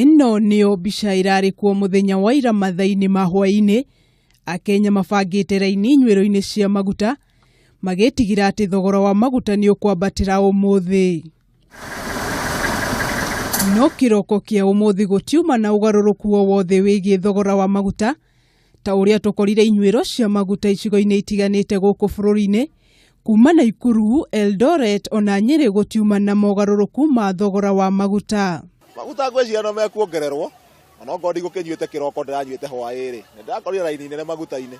Ĩno nĩyo mbica ĩrarĩ kuo mũthenya wa ira mathainĩ ma hwaĩ-inĩ, Akenya mabangĩte raini inyuĩro-inĩ cia maguta magĩtigĩra atĩ thogora wa maguta nĩ ũkwambatĩra ũmũthĩ. No kĩroko kĩa ũmũthĩ gũtiuma na ũgarũrũku o wothe wĩgiĩ thogora wa maguta, ta ũrĩa tũkorire inyuĩro cia maguta icigo-inĩ itiganĩte gũkũ bũrũri-inĩ kuma Naikuru, Eldoret ona Nyĩrĩ gũtiuma na mogarũrũku ma thogora wa maguta. Maguta ngwĩciria no mekuongererwo onokorwo ndigũkĩnyuĩte kĩroko ndĩranyuĩte hwaĩ-rĩ, nĩndĩrakorire raini nene maguta-inĩ.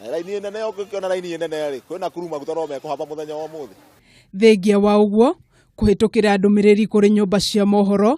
Na raini nene ũngĩkĩona raini nene-rĩ, kwĩ Nakuru maguta no mekũhamba mũthenya wa ũmũthĩ. Thengia wa ũguo, kũhĩtũkĩra ndũmĩrĩri kũrĩ nyũmba cia mohoro,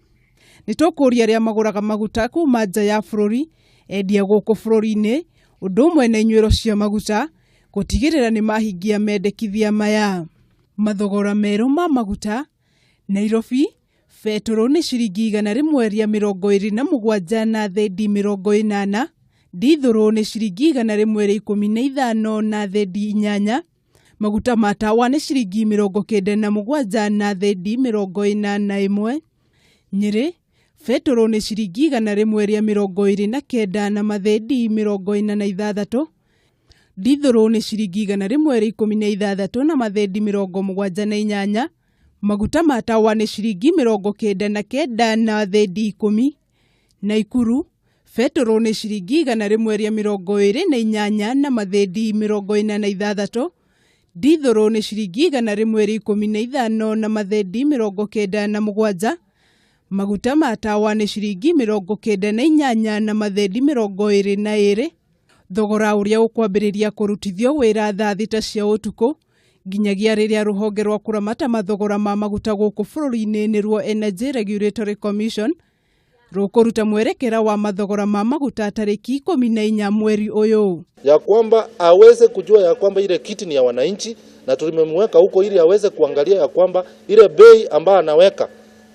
Nĩ tũkũria arĩa magũraga maguta kuma nja ya bũrũri endia gũkũ bũrũri-inĩ ũndũ ũmwe na inyuĩro cia maguta gũtigĩrĩra nĩ mahingia mendekithia maya. Mathogora merũ ma maguta, Nairobi, betũrũ nĩ ciringi igana rĩmwe rĩa mĩrongo ĩrĩ na mũgwanja na thendi mĩrongo ĩnana, ndithũrũ nĩ ciringi igana rĩmwe rĩa ikũmi na ithano na thendi inyanya, Maguta ma tawa nĩ ciringi mĩrongo kenda na mũgwanja na thendi mĩrongo ĩna na ĩmwe. Nyĩrĩ, betũrũ nĩ ciringi igana rĩmwe rĩa mĩrongo ĩrĩ na kenda na mathendi mĩrongo ĩna na ithathatũ. Ndithũrũ nĩ ciringi igana rĩmwe rĩa ikũmi na ithathatũ na mathendi mĩrongo mũgwanja na inyanya. Maguta ma tawa nĩ ciringi mĩrongo kenda na kenda na thendi ikũmi. Naikuru, betũrũ nĩ ciringi igana rĩmwe rĩa mĩrongo ĩrĩ na inyanya na mathĩndi mĩrongo ĩna na ithathatũ, ndithũrũ nĩ ciringi igana rĩmwe rĩa ikũmi na ithano na mathĩndi mĩrongo kenda na mũgwanja, maguta ma tawa nĩ ciringi mĩrongo kenda na inyanya na mathĩndi mĩrongo ĩrĩ na ĩrĩ, thogora ũrĩa ũkwambĩrĩria kũrutithio wĩra thaa thita cia ũtukũ, nginyagia rĩrĩa rũhonge rwa kũramata mathogora ma maguta gũkũ bũrũri-inĩ nĩ ruo Energy Regulatory Commission rũkũruta mwerekera wa mathogora ma maguta tarĩki ikũmi na inya mweri ũyũ. ya kwamba aweze kujua ya kwamba ile kiti ni ya wananchi, na tulimemweka huko ili aweze kuangalia ya kwamba ile bei ambayo anaweka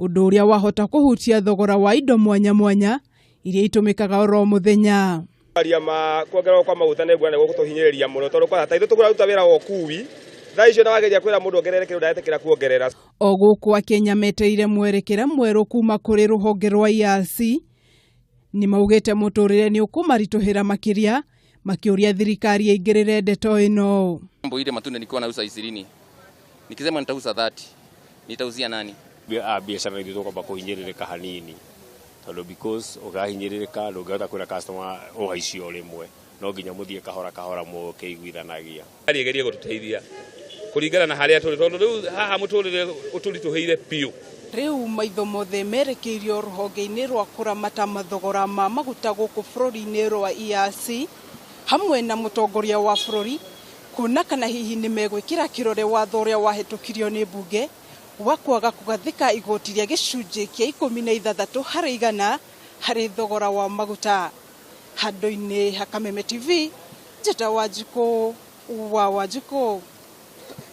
ũndũ ũrĩa wahota kũhutia thogora wa indo mwanya mwanya iria itũmĩkaga oro mũthenya aria ma kuongererwo kwa maguta nä nguona nä gå tå hinyä rä ria må no tondå kwana ta ithuä tå kå raruta wä ra wa å kui thaa icio na wageria kwä ra må ndå ongerere kä ndå ndaretä kuongerera o gũkũ akenya metereire mwerekera mwerũ kuma kũrĩ rũhonge rwa IRC nĩ maugĩte mũtũrĩre nĩ ũkũmaritũhĩra makĩria makĩũria thirikari ĩingĩrĩre ndeto ĩno. Mambo ile matunda nilikuwa nauza ishirini, nikisema nitauza 30 nitauzia nani? a biacara ithu tugomba kuhinyiririka hanini tondu because ugahinyiririka ndungihota kwira customer uhaicio rimwe no nginya muthie kahora kahora mukiguithanagia thirikari ĩgerie gũtũteithia kũringana na harĩa tũrĩ tondũ rĩu haha mũtũrĩre ũtũritũhĩire biũ Rĩu maitho mothe merekeirio rũhonge-inĩ rwa kũramata mathogora ma maguta gũkũ bũrũri-inĩ rwa EAC hamwe na mũtongoria wa bũrũri kuona kana hihi nĩ megwĩkĩra kĩrore watho ũrĩa wahĩtũkirio nĩ mbunge wa kwaga kũgathĩka igoti rĩa gĩcunjĩ kĩa ikũmi na ithathatũ harĩ igana harĩ thogora wa maguta. Handũ-inĩ ha Kameme TV, njĩta Wanjikũ wa Wanjikũ.